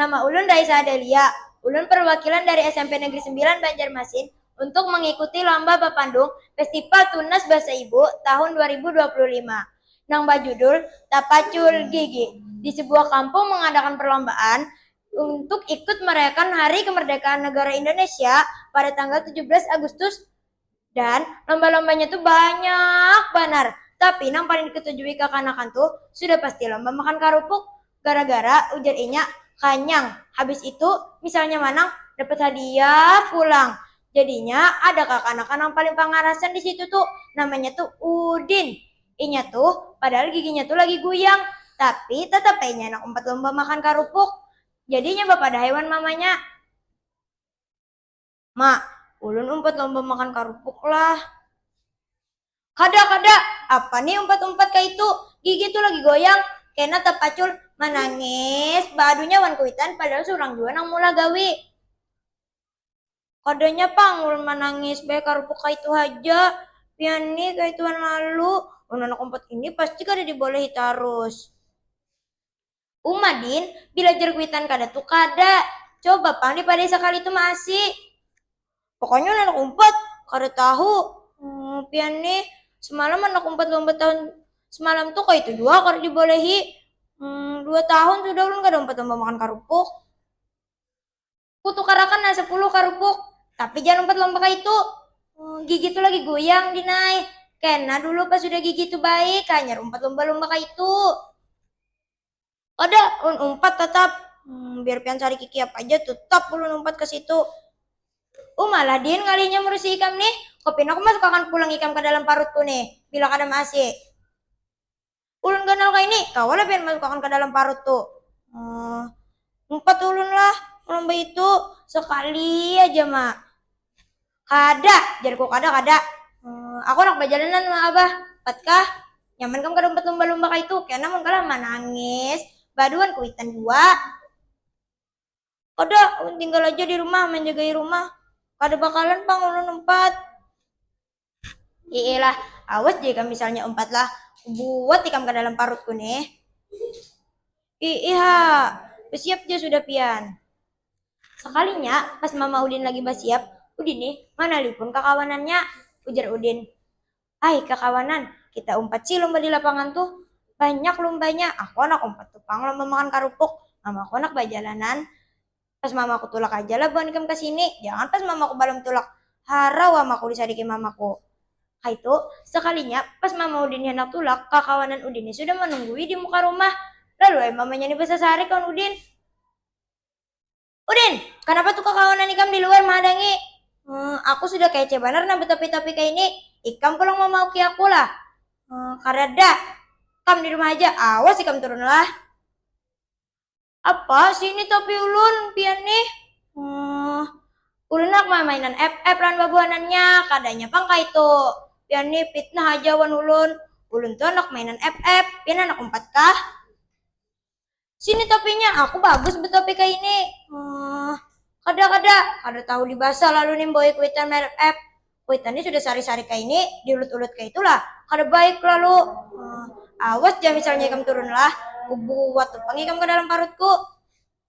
Nama ulun Raiza Adelia, ulun perwakilan dari SMP Negeri Sembilan Banjarmasin untuk mengikuti lomba bapandung Festival Tunas Basa Ibu tahun dua ribu dua puluh lima nang bajudul Tapacul Gigi di sebuah kampung mengadakan perlombaan untuk ikut merayakan Hari Kemerdekaan Negara Indonesia pada tanggal tujuh belas Agustus Dan lomba-lombanya tuh banyak banar. Tapi nang paling diketujui kakanakan tuh sudah pasti lomba makan karupuk. Gara-gara ujar inya kanyang, habis itu misalnya manang dapat hadiah pulang. Jadinya ada kakanakan nang paling pangarasan di situ tuh, namanya tuh Udin. Inya tuh padahal giginya tuh lagi guyang, tapi tetap ai inya handak umpat lomba makan karupuk. Jadi inya bapadah ai wan mamanya. Ma, ulun umpat lomba makan karupuk lah. Kada, kada! Apa nih umpat-umpat kaitu? Gigi tu lagi goyang, kena tapacul manangis baadunya wan kuitan padahal surang jua nang meulah gawi. Kadanya pang ulun manangis, baya karupuk kaitu haja. Pian nih kaituan lalu, mun anak umpat ini pasti kada dibolehi tarus. Uma din, bila jar kuitan kada tu kada. Coba pang dipadai sakali tu maasi. Pokoknya ulun anak umpat, kada tahu. Humm, pian nih, semalam anak umpat lumpat tahun semalam tu kaya itu jua kada dibolehi. Humm, dua tahun sudah ulun kada umpat lomba makan karupuk. Ku tukarakan nang sapuluh karupuk. Tapi jangan umpat lomba kaitu. Hmm, gigi tu lagi goyang, Dinai. Kena dulu pas sudah gigi tu baik, hanyar umpat lomba-lomba kaitu. Kada, ulun umpat tatap. Hmm, biar pian sarik gigi apa aja, tetap ulun umpat ke situ. Uma lah, Din, ngalihnya merusi ikam nih. Ko pina ku masukakan pulang ikam ke dalam parutku nih, bila kada maasi. Ulun ganal kaini, kawa lah pian masukakan ka dalam parut tu. Hah, umpat ulun lah pulang baitu, sakali aja ma. Kada, jarku kada, kada. Hah, aku handak bajalanan ma abah, umpat kah? Nyaman kam kada umpat lumba-lumba kaitu, kena mun kalah manangis baduan kuitan jua. Kada, ulun tinggal aja di rumah manjagai rumah, kada bakalan pang ulun umpat. Iilah, awas jika misalnya umpatlah kubuat ikam ka dalam parutku nih. Iiha, basiap ja sudah pian. Sakalinya pas Mama Udin lagi basiap, Udin nih manalipun kakawanannya. Ujar Udin, Ai kakawanan, kita umpat sih lomba di lapangan tuh. Banyak lombanya, aku handak umpat tu pang lomba makan karupuk, mamaku handak bajalanan. Pas mamaku tulak aja lah buhan ikam kasini, jangan pas mamaku balum tulak, hara wa maku disadiki mamaku. Kaitu, sakalinya pas mama udin handak tulak, kakawanan udin ni sudah manunggui di muka rumah. Lalu ai mamanya ni basasarik lawan udin. Udin! Kanapa tu kakawanan ikam di luar mahadangi? Hee, aku sudah kece banar nah batopi-topi kaini, ikam pulang mamauki aku lah? Hee, kadada. Kam di rumah aja, awas ikam turun lah. Apa sih ini topi ulun, pian nih? Huh, ulun handak mamainan FF lawan babuhanannya, kadanya pang kaitu. Pian nih pitnah haja wan ulun. Ulun tuh handak mainan FF, pian handak umpat kah? Sini topinya, aku bagus betopi kaya ini. Huh, kada, kada, kada tahu dibasa lalu nih membawai kuitan main FF. Kuitan ni sudah sari-sari kaini, diulut-ulut kaitulah, kada baik lalu. Awas ja misalnya ikam turunlah, kubuat tu pang ikam ka dalam parutku.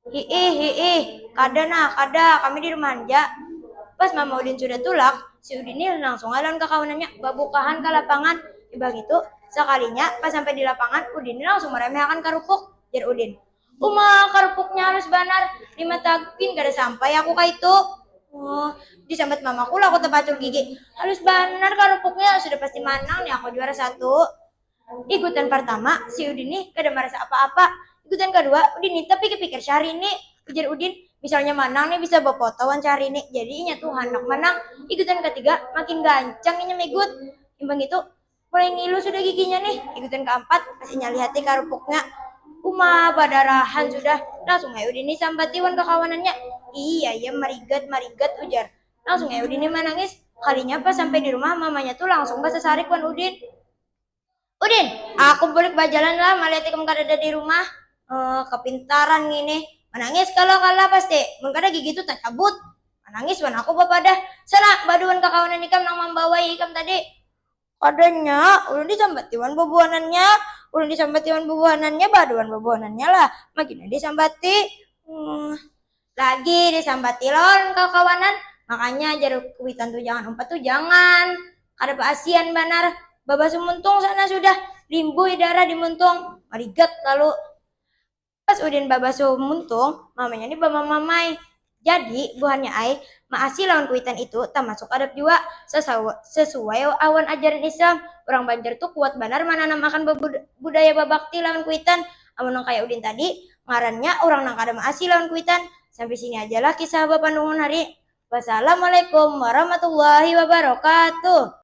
Hiih, hiih, kada nah, kada, kami di rumahan ja. Pas Mama Udin sudah tulak, si Udin ni langsung ai lawan kakawanannya babukahan ka lapangan. Imbah ngitu, sakalinya pas sampai di lapangan, Udin ni langsung maremehakan karupuk, jar Udin. Uma, karupuknya halus banar. Lima tagu gin kada sampai aku ka itu. Oh, disambat mamaku lah aku tapacul gigi. Halus banar karupuknya, sudah pasti manang nih aku juara satu. Igutan partama, si Udin nih kada marasa apa-apa. Igutan kadua, Udin nih tapikir-pikir Syahrini. Ujar Udin, misalnya manang nih bisa bapoto wan Syahrini, jadi inya tuh handak manang. Igutan katiga, makin gancang inya migut. Imbah ngitu, Mulai ngilu sudah giginya nih, ikutin keempat, masih nyali hati karupuknya. Uma, badarahan sudah. Langsung ai Udini sambati wan kakawanannya. Ii, ayam marigat, marigat, ujar. Langsung ai Udini manangis. Kalinya pas sampai di rumah, mamanya tuh langsung basasarik wan Udin. Udin, aku bulik bajalan lah, malihat ikam kadada di rumah. Eh, kepintaran ngini. Manangis kalo kala pasti. Mun kada gigi tuh tacabut. Manangis wan aku bapadah. Sana, badu wan kakawanan ikam nang mambawai ikam tadi. Kadanya, ulun disambati wan bubuhanannya. Ulun disambati wan bubuhanannya, baadu wan bubuhanannya lah. Magina disambati. Uuhh. Lagi disambati lo ulun kakawanan. Makanya jar kuwitan tu jangan umpat tu jangan. Kada baasian banar. Babasu muntung sana sudah. Limbuh darah di muntung. Marigat lalu. Pas Udin babasuh muntung, mamanya ni bamamamai. Jadi, buhannya ai, maasi lawan kuitan itu tamasuk adab jua. Sesuai awan ajaran Islam, urang Banjar tu kuat banar mananam akan budaya babakti lawan kuitan. Amun nang kaya Udin tadi, ngarannya urang nang kada maasi lawan kuitan. Sampai sini aja lah kisah bapandungun hari. Wassalamualaikum warahmatullahi wabarakatuh.